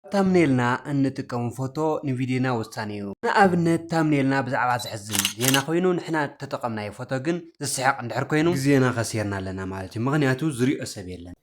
ታምኔልና እንጥቀሞ ፎቶ ንቪድዮና ወሳኒ እዩ። ንኣብነት ታምኔልና ብዛዕባ ዘሕዝን ዜና ኮይኑ ንሕና እተጠቐምናዮ ፎቶ ግን ዘስሕቕ እንድሕር ኮይኑ ግዜና ከሲርና ኣለና ማለት እዩ ምኽንያቱ ዝሪኦ ሰብ የለን።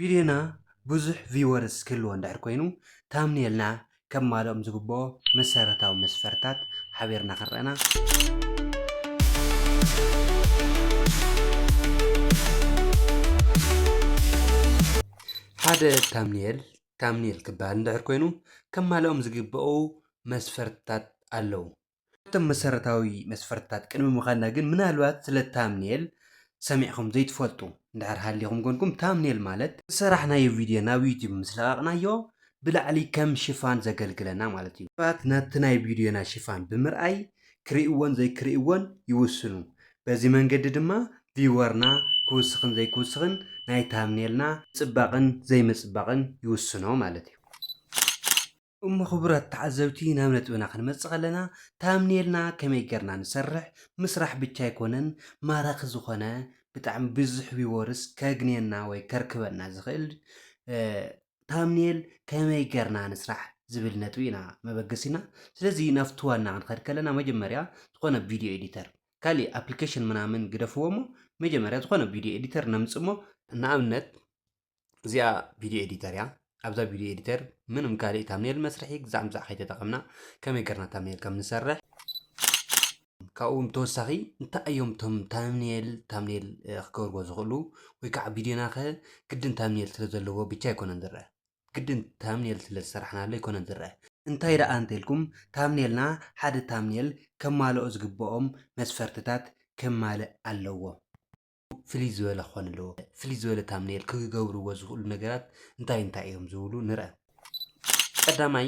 ቪድዮና ብዙሕ ቪወርስ ክህልዎ እንድሕር ኮይኑ ታምኔልና ከማልኦም ዝግብኦ መሰረታዊ መስፈርትታት ሓቢርና ክንርኣና። ሓደ ታምኔል Thumbnail ክበሃል እንድሕር ኮይኑ ከማልኦም ዝግበኡ መስፈርትታት ኣለዉ። ካብቶም መሰረታዊ መስፈርትታት ቅድሚ ምኻድና ግን ምናልባት ስለ ታምኔል ሰሚዕኹም ዘይትፈልጡ እንድሕር ሃሊኹም ኮንኩም ታምኔል ማለት ዝሰራሕናዮ ቪድዮ ናብ ዩቱብ ምስ ለቐቕናዮ ብላዕሊ ከም ሽፋን ዘገልግለና ማለት እዩ። ሰባት ናብቲ ናይ ቪድዮና ሽፋን ብምርኣይ ክሪእዎን ዘይክሪእዎን ይውስኑ። በዚ መንገዲ ድማ ቪወርና ክውስኽን ዘይክውስኽን ናይ ታምኔልና ምጽባቕን ዘይምጽባቕን ይውስኖ ማለት እዩ። እሞ ክቡራት ተዓዘብቲ ናብ ነጥብና ክንመጽእ ከለና ታምኔልና ከመይ ጌርና ንሰርሕ ምስራሕ ብቻ ኣይኮነን ማራኺ ዝኾነ ብጣዕሚ ብዙሕ ቪወርስ ከግንየና ወይ ከርክበና ዝኽእል ታምኔል ከመይ ገርና ንስራሕ ዝብል ነጥቢ ኢና መበገሲና ስለዚ ናብቲ ዋና ክንኸድ ከለና መጀመርያ ዝኾነ ቪድዮ ኤዲተር ካሊእ ኣፕሊኬሽን ምናምን ግደፍዎ እሞ መጀመርያ ዝኾነ ቪድዮ ኤዲተር ነምፅ እሞ ንኣብነት እዚኣ ቪድዮ ኤዲተር እያ ኣብዛ ቪድዮ ኤዲተር ምንም ካሊእ ታምኔል መስርሒ ግዛዕ ምዛዕ ከይተጠቐምና ከመይ ገርና ታምኔል ከም ንሰርሕ ካብኡ ብተወሳኺ እንታይ እዮም እቶም ታምኔል ታምኔል ክገብርዎ ዝኽእሉ ወይ ከዓ ቪድዮና ከ ግድን ታምኔል ስለ ዘለዎ ብቻ ኣይኮነን ዝረአ ግድን ታምኔል ስለ ዝሰራሕናሉ ኣይኮነን ዝረአ እንታይ ደኣ እንተልኩም ታምኔልና ሓደ ታምኔል ከማልኦ ዝግበኦም መስፈርትታት ከማልእ ኣለዎ። ፍልይ ዝበለ ክኾን ኣለዎ። ፍልይ ዝበለ ታምኔል ክገብርዎ ዝኽእሉ ነገራት እንታይ እንታይ እዮም ዝብሉ ንርኣ። ቀዳማይ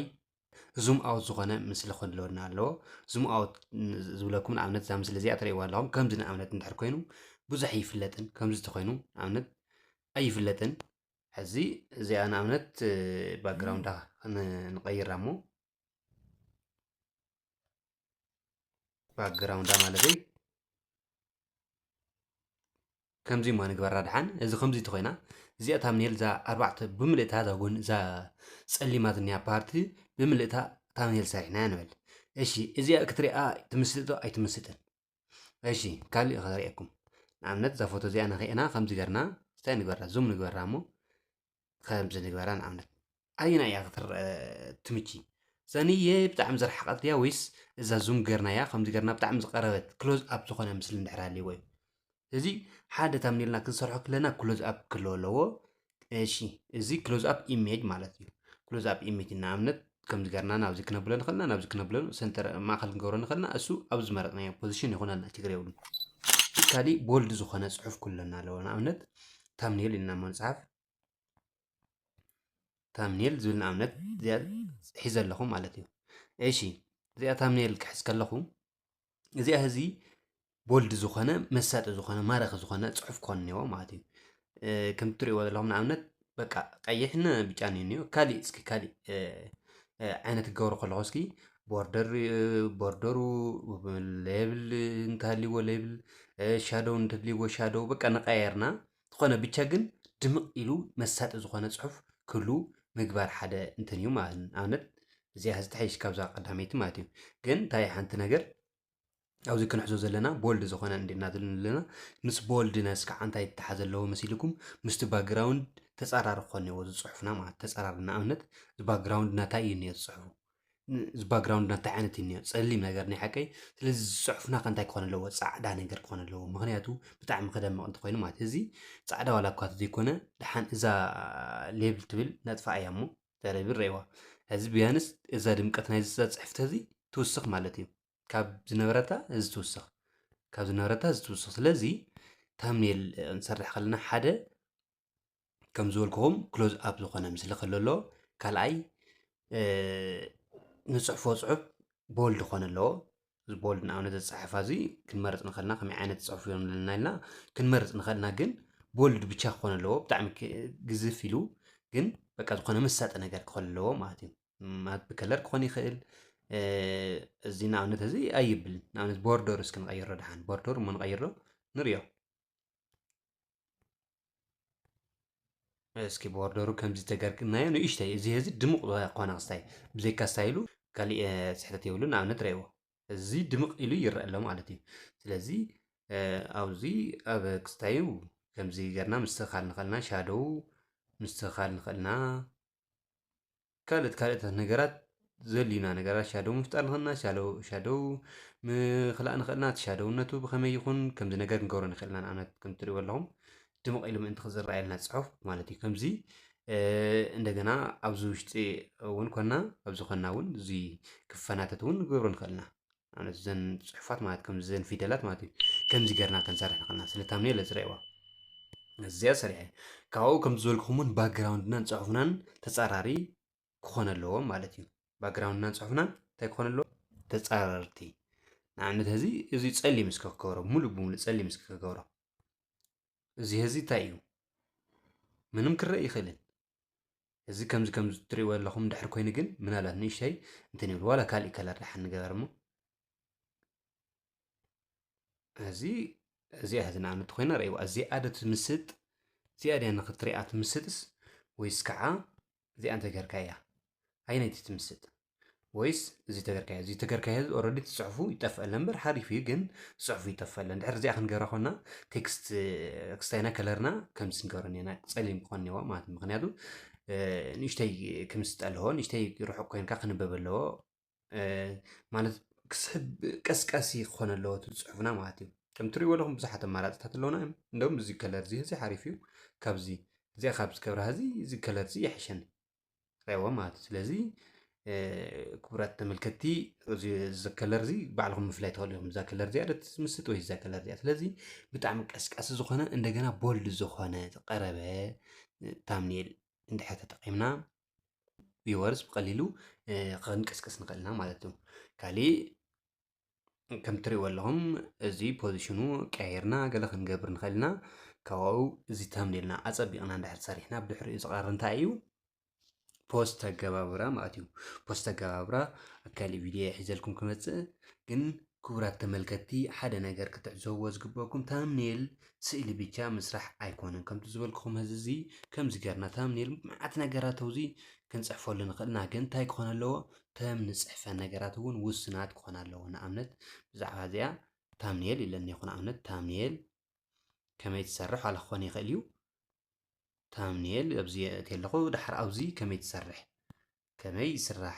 ዙም ኣውት ዝኾነ ምስሊ ክኾን ኣለወና ኣለዎ። ዙም ኣውት ዝብለኩም ንኣብነት እዛ ምስሊ እዚኣ ትርእይዋ ኣለኹም ከምዚ ንኣብነት እንድሕር ኮይኑ ብዙሕ ኣይፍለጥን ከምዚ ተኾይኑ ንኣብነት ኣይፍለጥን ሕዚ እዚኣ ንኣብነት ባክግራውንዳ ንቀይራ እሞ ባክግራውንዳ ማለተይ ከምዚ እማ ንግበራ ድሓን እዚ ከምዚ እንተኮይና እዚኣ ታምኔል እዛ ኣርባዕተ ብምልእታ እዛ ጎኒ እዛ ፀሊማ ዝኒኣ ፓርቲ ብምልእታ ታምኔል ሰሪሕናያ ንበል እሺ እዚኣ ክትሪኣ ትምስጥ ዶ ኣይትምስጥን እሺ ካልእ ከሪአኩም ንኣብነት እዛ ፎቶ እዚኣ ንክኤና ከምዚ ገርና እንታይ ንግበራ ዙም ንግበራ እሞ ከምዚ ንግበራ ንኣብነት ኣየና እያ ክትረአ ትምቺ ዘንየ ብጣዕሚ ዝረሓቐት ድያ ወይስ እዛ ዙም ገርናያ ከምዚ ገርና ብጣዕሚ ዝቀረበት ክሎዝ ኣፕ ዝኾነ ምስሊ እንድሕር ሃልይዎ እዩ እዚ ሓደ ታምኔልና ክንሰርሖ ክለና ክሎዝ ኣፕ ክህልዎ ኣለዎ እሺ እዚ ክሎዝ ኣፕ ኢሜጅ ማለት እዩ ክሎዝ ኣፕ ኢሜጅ ንኣብነት ከምዚ ገርና ናብዚ ክነብሎ ንኽእልና ናብዚ ክነብሎ ሰንተር ማእኸል ክንገብሮ ንኽእልና እሱ ኣብ ዝመረጽናዮ ፖዚሽን ይኹነና ችግር የብሉን። ካሊእ ቦልድ ዝኾነ ጽሑፍ ኩለና ኣለዎ ንኣብነት ታምኔል ኢልና እሞ ንጽሓፍ ታምኔል ዝብል ንኣብነት እዚኣ ሒዘ ኣለኹ ማለት እዩ። እሺ እዚኣ ታምኔል ክሕዝ ከለኹ እዚኣ ህዚ ቦልድ ዝኾነ መሳጢ ዝኾነ ማራኺ ዝኾነ ፅሑፍ ክኾን እኒዎ ማለት እዩ ከም ትሪእዎ ዘለኹም ንኣብነት በቃ ቀይሕን ብጫን እዩ እኒኦ ካሊእ እስኪ ካሊእ ዓይነት ክገብሩ ከለኹ እስኪ ቦርደር ቦርደሩ ሌብል እንተሃልይዎ ሌብል ሻዶው እንተድልይዎ ሻዶው በቃ ንቀያየርና ዝኾነ ብቻ ግን ድምቕ ኢሉ መሳጢ ዝኾነ ጽሑፍ ክህሉ ምግባር ሓደ እንትን እዩ ማለት እዩ። ንኣብነት እዚኣ ሕዚ ትሓይሽ ካብዛ ቀዳመይቲ ማለት እዩ። ግን እንታይ ሓንቲ ነገር ኣብዚ ክንሕዞ ዘለና ቦልድ ዝኾነ እንዲ እናዘልን ኣለና ምስ ቦልድነስ ከዓ እንታይ ተሓዘ ኣለዎ መሲልኩም ምስቲ ባግራውንድ ተፃራሪ ክኾን እዎ ዝፅሑፍና ማለት ተፃራሪ ንኣብነት ባግራውንድ ናታይ እዩ እኒኦ ዝፅሑፉ ባክግራውንድ እንታይ ዓይነት እዩ እኒኦ ፀሊም ነገር ናይ ሓቀይ ስለዚ ዝፅሑፍና ከ እንታይ ክኾን ኣለዎ ፃዕዳ ነገር ክኾን ኣለዎ ምክንያቱ ብጣዕሚ ክደምቕ እንተኮይኑ ማለት እዚ ፃዕዳ ዋላ እኳ ዘይኮነ ድሓን እዛ ሌብል ትብል ነጥፋ እያ እሞ ተረቢ ረእዋ እዚ ቢያንስ እዛ ድምቀት ናይ ዝዛ ፅሕፍቲ እዚ ትውስኽ ማለት እዩ ካብ ዝነበረታ እዚ ትውስኽ ካብ ዝነበረታ እዚ ትውስኽ ስለዚ ታምኔል ክንሰርሕ ከለና ሓደ ከም ዝበልኩኹም ክሎዝ ኣፕ ዝኾነ ምስሊ ከሎ ኣሎ ካልኣይ ንፅሕፎ ፅሑፍ ቦልድ ክኾነ ኣለዎ እዚ ቦልድ ንኣብነት ዘፀሓፋ እዚ ክንመርፅ ንኸልና ከመይ ዓይነት ፅሑፍ እዮም ዘለና ኢልና ክንመርፅ ንኸልና ግን ቦልድ ብቻ ክኾነ ኣለዎ ብጣዕሚ ግዝፍ ኢሉ ግን በቃ ዝኾነ መሳጢ ነገር ክኾን ኣለዎ ማለት እዩ ማለት ብከለር ክኾን ይኽእል እዚ ንኣብነት እዚ ኣይብልን ንኣብነት ቦርደር እስኪ ንቐይሮ ድሓን ቦርደር እሞ ንቐይሮ ንሪኦ እስኪ ቦርደሩ ከምዚ ተገርግናዮ ንእሽተይ እዚ እዚ ድምቕ ኮነ ክስታይ ብዘይካ ስታይሉ ካሊእ ስሕተት የብሉን ንኣብነት ረእይዎ እዚ ድምቕ ኢሉ ይረአ ኣሎ ማለት እዩ ስለዚ ኣብዚ ኣብ ክስታዩ ከምዚ ገርና ምስትኻል ንኸልና ሻዶው ምስትኻል ንኸልና ካልኦት ካልኦታት ነገራት ዘድልዩና ነገራት ሻዶው ምፍጣር ንኽእል ኢና። ሻዶው ሻዶው ምኽላእ ንኽእል ኢና። እቲ ሻዶውነቱ ብኸመይ ይኹን ከምዚ ነገር ክንገብሮ ንኽእል ኢና። ንኣብነት ከም እትርእይዎ ኣለኹም ድምቕ ኢሉ ምእንቲ ክዝረኣየልና ጽሑፍ ማለት እዩ። ከምዚ እንደገና ኣብዚ ውሽጢ እውን ኮና ኣብዚ ኮና እውን እዚ ክፈናተት እውን ክንገብሮ ንኽእል ኢና። ማለት እዘን ፅሑፋት ማለት ከምዚ ዘን ፊደላት ማለት እዩ ከምዚ ገርና ከንሰርሕ ንኽእልና ስለ ታምኒ እለ ፅረይዋ እዚኣ ሰሪሐ ካብኡ ከም ዝበልክኹም እውን ባክግራውንድናን ፅሑፍናን ተፃራሪ ክኾነ ኣለዎ ማለት እዩ ባክግራውንድናን ፅሑፍናን እንታይ ክኾነ ኣለዎ ተፃረርቲ ንኣብነት እዚ እዚ ፀሊም እስከ ክገብሮ ሙሉእ ብሙሉእ ፀሊም እስከ ክገብሮ እዚ ህዚ እንታይ እዩ ምንም ክረእ ይኽእልን እዚ ከምዚ ከምዚ ትሪእዎ ዘለኹም ድሕር ኮይኑ ግን ምናልባት ንእሽተይ እንትን ይብሉ ዋላ ካሊእ ከለር ድሓን ንገበር እሞ እዚ እዚኣ ሕዚ ንኣብነት ኮይና ረእይዋ እዚኣ ዶ ትምስጥ እዚኣ ድያ ንክትሪኣ ትምስጥስ ወይስ ከዓ እዚኣ እንተገርካያ ኣይነይቲ ትምስጥ ወይስ እዚ ተገርካዮ እዚ ተገርካዮ ህዝቢ ኦረዲ ትፅሕፉ ይጠፍአለ እምበር ሓሪፍ እዩ ግን ፅሑፉ ይጠፍአለ እንድሕር እዚኣ ክንገብራ ኮና ቴክስት ክስታይና ከለርና ከምዚ ንገብረ ኔና ፀሊም ክኾን ኔዋ ማለት እዩ ምክንያቱ ንእሽተይ ክምስጥ ኣለዎ ንእሽተይ ርሑቅ ኮይንካ ክንበብ ኣለዎ ማለት ክስሕብ ቀስቃሲ ክኾን ኣለዎ እቲ ፅሑፍና ማለት እዩ ከም ትሪእዎ ኣለኹም ብዙሓት ኣማራፅታት ኣለውና እዮም እንደውም እዚ ከለር እዚ እዚ ሓሪፍ እዩ ካብዚ እዚኣ ካብ ዝገብራ እዚ እዚ ከለር እዚ ይሕሸኒ ሬዎ ማለት እዩ ስለዚ ክቡራት ተመልከቲ ዘከለር እዚ ባዕልኩም ምፍላይ ትኽእሉ እዮም እዛ ከለር እዚኣ ደስ ትምስጥ ወይ እዛ ከለር እዚኣ ስለዚ ብጣዕሚ ቀስቃሲ ዝኾነ እንደገና ቦልድ ዝኾነ ዝቀረበ ታምኔል እንድሕር ተጠቂምና ቪወርስ ብቀሊሉ ክንቅስቅስ ንኽእል ኢና ማለት እዩ ካሊእ ከም ትሪእዎ ኣለኹም እዚ ፖዚሽኑ ቀያይርና ገለ ክንገብር ንኽእል ኢና ካብኡ እዚ ተምኔልና ኣፀቢቕና እንድሕር ሰሪሕና ብድሕሪኡ ዝቐር እንታይ እዩ ፖስት ኣገባብራ ማለት እዩ ፖስት ኣገባብራ ኣብ ካሊእ ቪድዮ ሒዘልኩም ክመፅእ ግን ክቡራት ተመልከትቲ ሓደ ነገር ክትዕዘብዎ ዝግበኩም ታምኔል ስእሊ ብቻ ምስራሕ ኣይኮነን ከምቲ ዝበልኩኹም ህዚ እዚ ከምዚ ገርና ታምኔል መዓት ነገራት ኣብዚ ክንፅሕፈሉ ንኽእልና ግን እንታይ ክኾነ ኣለዎ እተን ንጽሕፈን ነገራት እውን ውሱናት ክኾና ኣለዎ። ንኣብነት ብዛዕባ እዚኣ ታምኒኤል ኢለ እኒኤኹ። ንኣብነት ታምኒኤል ከመይ ትሰርሕ ዋላ ክኾን ይኽእል እዩ። ታምኒኤል ኣብዚ የእቲ ኣለኹ ድሓር ኣብዚ ከመይ ትሰርሕ ከመይ ይስራሕ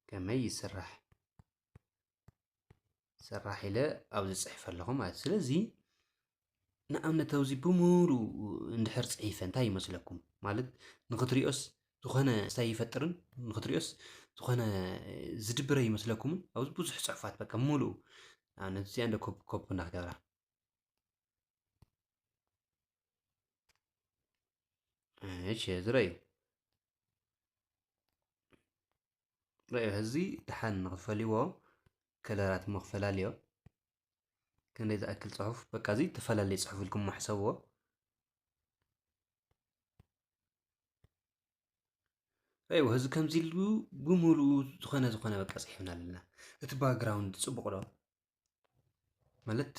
ከመይ ይስራሕ ሰራሕ ኢለ ኣብዚ ፅሒፈ ኣለኹ ማለት ስለዚ ንኣብነት ኣብዚ ብምሉ እንድሕር ፅሒፈ እንታይ ይመስለኩም ማለት ንክትሪኦስ ዝኾነ እንታይ ይፈጥርን ንክትሪኦስ ዝኾነ ዝድብረ ይመስለኩምን ኣብዚ ብዙሕ ፅሑፋት በቃ ሙሉኡ ንኣብነት እዚኣ እንደ ኮፕ ኮፕ እናክገብራ እሺ ዝረዩ ረኣዮ ህዝቢ ደሓን ንኽፈልይዎ ከለራት እሞ ክፈላልዮ ክንደይ ዝኣክል ጽሑፍ በቃ እዚ ተፈላለየ ጽሑፍ ኢልኩሞ ሕሰብዎ ረእይዎ ህዝቢ ከምዚ ኢሉ ብምሉኡ ዝኾነ ዝኾነ በቃ ጽሒፍና ኣለና እቲ ባግራውንድ ጽቡቕ ዶ ማለት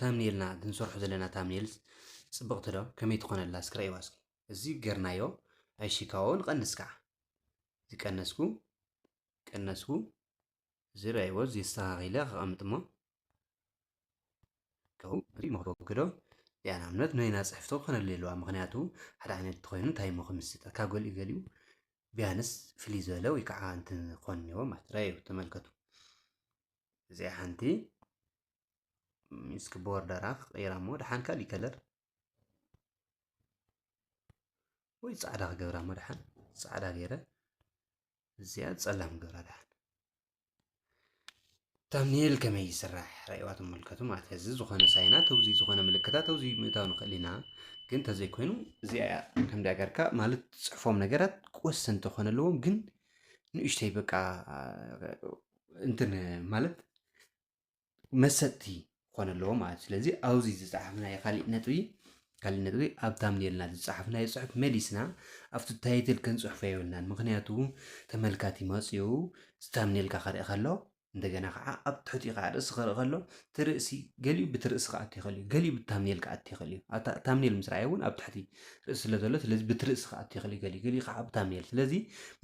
ታምኔልና ንሰርሖ ዘለና ታምኔል ፅብቕቲ ዶ ከመይ ትኾን ኣላ እስኪ ረኣይዋ እስኪ እዚ ገርናዮ ኣይሽካዎ ንቐንስ ከዓ እዚ ቀነስኩ ቀነስኩ እዚ ረኣይዎ እዚ ኣስተኻኺለ ከቐምጥ እሞ መኽበብኪ ዶ ያ ንኣብነት ናይና ፅሕፍቶ ክኾነሉ ኣለዋ ምክንያቱ ሓደ ዓይነት ተኮይኑ እንታይ እሞ ክምስጥ ካብ ገሊኡ ገሊኡ ቢያንስ ፍልይ ዝበለ ወይ ከዓ እንትን ክኾን እኒዎ ማለት ረኣዩ ተመልከቱ እዚኣ ሓንቲ እስኪ ቦርደራ ክቕይራ እሞ ድሓን ካልእ ከለር ወይ ፃዕዳ ክገብራ እሞ ድሓን ፃዕዳ ገይረ እዚኣ ፀላም ገብራ ድሓን ታምኔል ከመይ ይስራሕ ራእዋ ትመልከቱ ማለት እዚ ዝኾነ ሳይና ተውዚ ዝኾነ ምልክታ ተውዚ ምእታው ንኽእል ኢና ግን ተዘይኮይኑ እዚኣ እያ ከምዳ ገርካ ማለት ፅሕፎም ነገራት ወሰንቲ ክኾነ ኣለዎም ግን ንእሽተይ በቃ እንትን ማለት መሰጥቲ ክኾነ ኣለዎ ማለት ስለዚ ኣብዚ ዝፀሓፍናዮ ካሊእ ነጥቢ ካሊእ ነጥቢ ኣብ ታምኔልና ዝፀሓፍናዮ ፅሑፍ መሊስና ኣብቲ ታይትል ክንፅሕፎ የብልናን ምክንያቱ ተመልካቲ መፂኡ ታምኔልካ ክርኢ ከሎ እንደገና ከዓ ኣብ ትሕቲኡ ከዓ ርእሲ ክርኢ ከሎ እቲ ርእሲ ገሊኡ ብቲ ርእሲ ክኣቱ ይኽእል እዩ፣ ገሊኡ ብቲ ታምኔል ክኣቲ ይኽእል እዩ። ኣብታ ታምኔል ምስ ረኣየ እውን ኣብ ትሕቲ ርእሲ ስለ ዘሎ ስለዚ ብቲ ርእሲ ክኣቱ ይኽእል እዩ ገሊኡ፣ ገሊኡ ክዓ ብታምኔል ስለዚ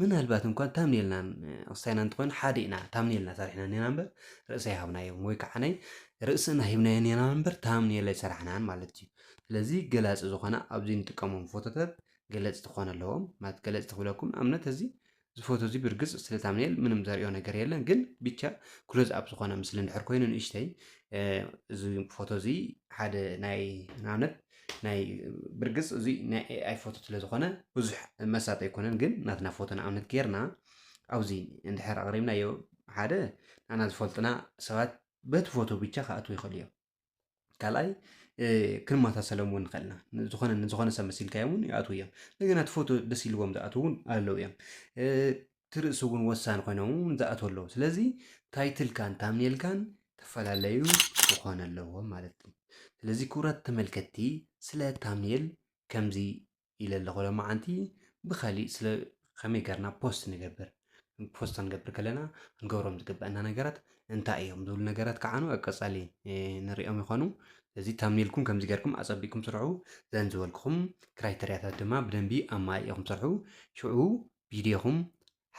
ምናልባት እንኳን ታምኔልናን ርእሳይና እንተኾይኑ ሓደ ኢና ታምኔልና ሰሪሕና እኔና እምበር ርእሲ ኣይሃብናዮን ወይ ክዓ ርእስና ሂብናዮ እኔና እምበር ታምኔል ኣይሰራሕናን ማለት እዩ። ስለዚ ገላጺ ዝኾና ኣብዚ እንጥቀሞም ፎቶታት ገለጽቲ ክኾኑ ኣለዎም ማለት ገለጽቲ ክብለኩም ንኣብነት እዚ ዝፎቶ እዚ ብርግጽ ስለ ታምኔል ምንም ዘርእዮ ነገር የለን ግን ብቻ ክሎዝ ኣፕ ዝኾነ ምስሊ እንድሕር ኮይኑ ንእሽተይ እዚ ፎቶ እዚ ሓደ ናይ ንኣብነት ናይ ብርግጽ እዚ ናይ ኤኣይ ፎቶ ስለ ዝኾነ ብዙሕ መሳጢ ኣይኮነን ግን ናትና ፎቶ ንኣብነት ጌርና ኣብዚ እንድሕር ኣቕሪብናዮ ሓደ ንኣና ዝፈልጡና ሰባት በቲ ፎቶ ብቻ ክኣትዉ ይኽእሉ እዮም ካልኣይ ክንመሳሰሎም እውን ንኽእል ኢና ዝኾነ ንዝኾነ ሰብ መሲልካዮ እውን ይኣትዉ እዮም እንደገና እቲ ፎቶ ደስ ኢልዎም ዝኣትዉ እውን ኣለዉ እዮም እቲ ርእሲ እውን ወሳኒ ኮይኖም እውን ዝኣትዉ ኣለዉ ስለዚ ታይትልካን ታምኔልካን ተፈላለዩ ክኾነ ኣለዎም ማለት እዩ ስለዚ ክቡራት ተመልከትቲ ስለ ታምኔል ከምዚ ኢለ ኣለኹ ሎማዓንቲ ብካሊእ ስለ ከመይ ገርና ፖስት ንገብር ፖስት ክንገብር ከለና ክንገብሮም ዝግበአና ነገራት እንታይ እዮም ዝብሉ ነገራት ከዓኑ ኣብ ቀፃሊ ንሪኦም ይኾኑ እዚ ታምኔልኩም ከምዚ ገርኩም ኣፀቢቅኩም ስርሑ ዘን ዝበልኩኹም ክራይተርያታት ድማ ብደንቢ ኣማሊእኹም ስርሑ ሽዑ ቪድዮኹም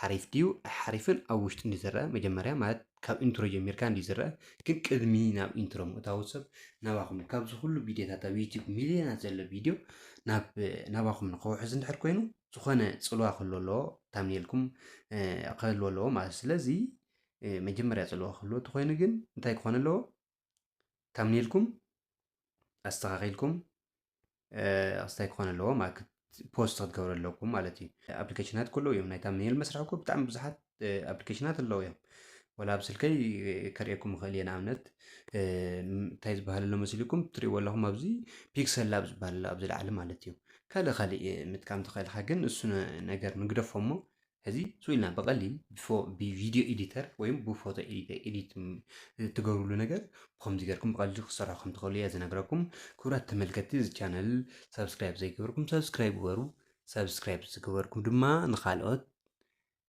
ሓሪፍ ድዩ ኣይሓሪፍን ኣብ ውሽጢ እንድዩ ዝረኣ መጀመርያ ማለት ካብ ኢንትሮ ጀሚርካ እንድዩ ዝረኣ ግን ቅድሚ ናብ ኢንትሮ ምእታዉ ሰብ ናባኹም ካብዚ ኩሉ ቪድዮታት ኣብ ዩቲዩብ ሚልዮናት ዘሎ ቪድዮ ናብ ናባኹም ንኸውሕዝ እንድሕር ኮይኑ ዝኾነ ጽልዋ ክህልዎ ኣለዎ ታምኔልኩም ክህልዎ ኣለዎ ማለት ስለዚ መጀመርያ ጽልዋ ክህልዎ ተኾይኑ ግን እንታይ ክኾን ኣለዎ ከምን ኢልኩም ኣስተኻኺልኩም ኣስታይ ክኾነ ኣለዎ ፖስት ክትገብሩ ኣለኩም ማለት እዩ ኣፕሊኬሽናት ከሎ እዮም ናይታ ሜል መስርሒ እኮ ብጣዕሚ ብዙሓት ኣፕሊኬሽናት ኣለዎ እዮም ወላ ኣብ ስልከይ ከርእየኩም ይኽእል እየ ንኣብነት እንታይ ዝበሃል ኣሎ መሲልኩም ትሪእዎ ኣለኹም ኣብዚ ፒክሰል ላብ ዝበሃል ኣሎ ኣብዚ ላዕሊ ማለት እዩ ካልእ ካልእ ምጥቃም ተኽእልካ ግን እሱ ነገር ንግደፎ እሞ ሕዚ ሱቅ ኢልና ብቀሊል ብቪድዮ ኤዲተር ወይም ብፎቶ ኤዲት ትገብርሉ ነገር ብከምዚ ገርኩም ብቀሊሉ ክትሰርሑ ከም ትኽእሉ እየ ዝነግረኩም። ክቡራት ተመልከትቲ እዚ ቻነል ሰብስክራይብ ዘይገበርኩም ሰብስክራይብ ግበሩ። ሰብስክራይብ ዝገበርኩም ድማ ንካልኦት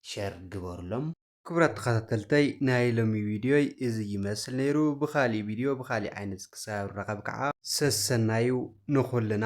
ሸር ግበሩሎም። ክቡራት ተኸታተልተይ ናይ ሎሚ ቪድዮይ እዚ ይመስል ነይሩ። ብካሊእ ቪድዮ ብካሊእ ዓይነት ክሳብ ንራኸብ ከዓ ሰሰናዩ ንኹልና።